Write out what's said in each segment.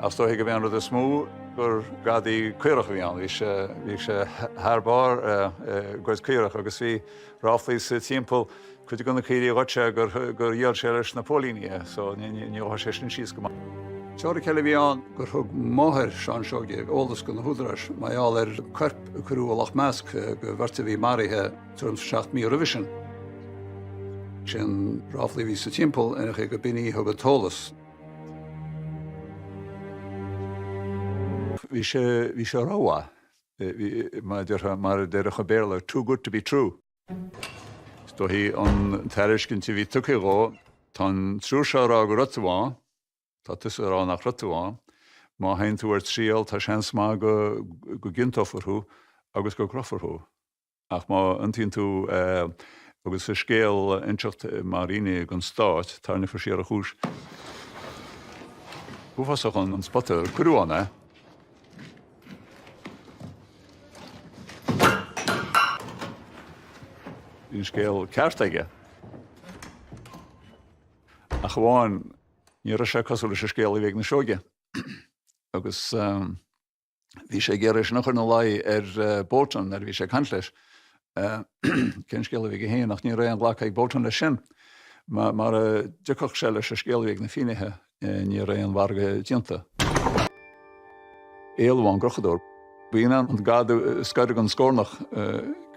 Is dóichí go b'é an rud is mó gur gadaí caorach a bhí ann. Bhí sé bhí sé thar barr ag goid caorach agus bhí ráflaí sa timpeall cuid go na caoirigh a ghoid sé gur gur dhíol sé leis na póilíní é, so níor chuaigh sé sin síos go maith. Teoiric eile a bhí ann gur thug máthair Sheáin Seoige eolas go na húdaráis mar gheall ar coirp a cuireadh i Loch Measc go bheirt a bhí maraithe tuairim is seacht mí roimhe sin. Sin ráflaí a bhí sa timpeall ar aon chaoi go b'in í a thug an t-eolas. Bhí sé, bhí sé rómhaith. Bhí, mar a déarfá, mar a déarfadh an Béarla, too good to be true. Is dóichí an tairiscint a bhí tugtha dhó, tá an triúr seo ag rá go raibh tú ann, tá tusa ag rá nach raibh tú ann, má théann tú ar triail tá seans maith go, go gciontófar thú agus go gcrochfar thú. Ach má iontaíonn tú agus an scéal a inseacht mar fhinné don stát, tairneofar siar an chúis. Uafásach an spota ar cuireadh ann é. Bhí an scéal ceart aige. Ach amháin ní raibh sé cosúil leis an scéal a bhí ag na Seoigigh. Agus um, bhí sé ag iarraidh é sin a chur ina luí ar Bolton nuair a bhí sé ag caint leis. Cén scéal a bhí aige féin ach ní raibh aon ghlacadh ag Bolton leis sin. Mara dtiocfadh sé leis an scéal a bhí ag na finnéithe, ní raibh aon mhargadh déanta. Éalú ón gcrochadóir. B'in é an gad is gaire don scornach.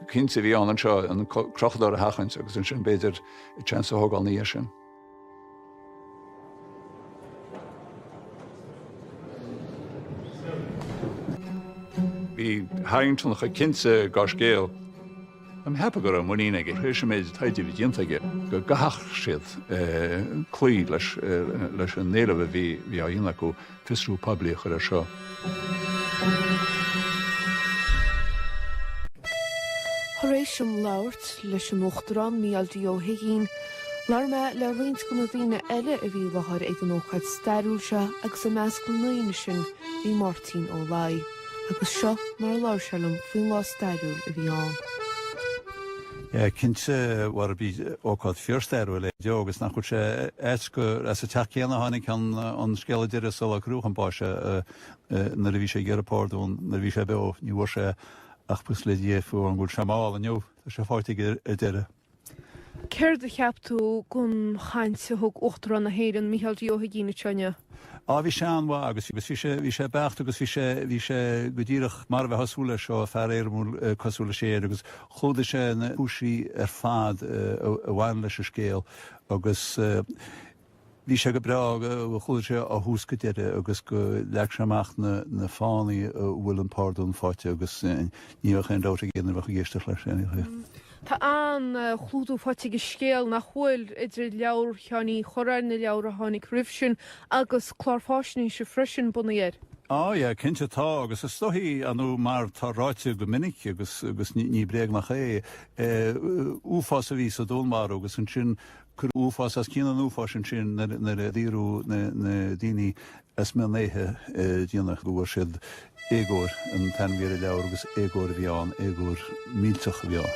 Cinnte bhí ann anseo an crochadóir a sheachaint agus ansin b'fhéidir seans a thógáil ina dhiaidh sin. Bhí Harrington chomh cinnte dá scéal. Tá mé ag ceapadh go raibh muinín aige tar éis an méid taighde a bhí déanta aige go gcaithfeadh siad cloí leis an éileamh a bhí á dhéanamh acu. fiosrú poiblí a chur air seo. Tar éis dom labhairt leis an Uachtarán Micheál D. Ó hUigínn, labhair mé le roinnt de na daoine eile a bhí i láthair ag an ócáid stairiúil seo agus i measc na ndaoine sin bhí Máirtín Ó Laigh agus seo mar a labhair sé liom faoin lá stairiúil a bhí ann. Cinnte, a Mháire, ba ócáid fíorstairiúil é seo agus nach bhfuil sé ait gur as an teach céanna a tháinig an scéal deiridh sular crochadh chun báis é nuair a bhí sé ag iarraidh pardún nuair a bhí sé beo. Ní bhfuair sé ach buíochas le Dia fiú an bhfuil sé mall inniu. Tá sé faighte aige ar deireadh. Céard a cheap tú gon chaint a thug Uachtarán na hÉireann Micheál D. Ó hUigínn anseo inniu? Á, bhí sé an-mhaith agus bhí sé, bhí sé beacht agus bhí sé, bhí sé go díreach mar a bheadh súil leis ó fear éirimiúil cosúil leis, ya, agus chlúdaigh sé na cúinsí ar fad a bhain leis an scéal agus bhí sé go breá, chlúdaigh sé ó thús go deireadh agus leag sé amach na fáthanna a bhfuil an pardún faighte agus ní bheadh aon dabht ag éinne a bheadh ag éisteacht leis. Tá an-chlúdú faighte ag an scéal nach bhfuil idir leabhar Sheáin Uí Chuirreáin, na leabhair a tháinig roimh sin, agus clár faisnéise freisin bunaithe air. Á, ya, cinnte tá, agus is dóichí nó mar tá ráite go minic, agus agus ní bréag nach é, uafás a bhí sa dúnmharú agus ansin cuireadh uafás os cionn an uafáis ansin nuair a daoradh na daoine Mheas mé an oíche dhéanach go bhfuair siad, Éagóir an t-ainm a bhí ar an leabhar agus éagóir a bhí ann, éagóir millteach a bhí ann.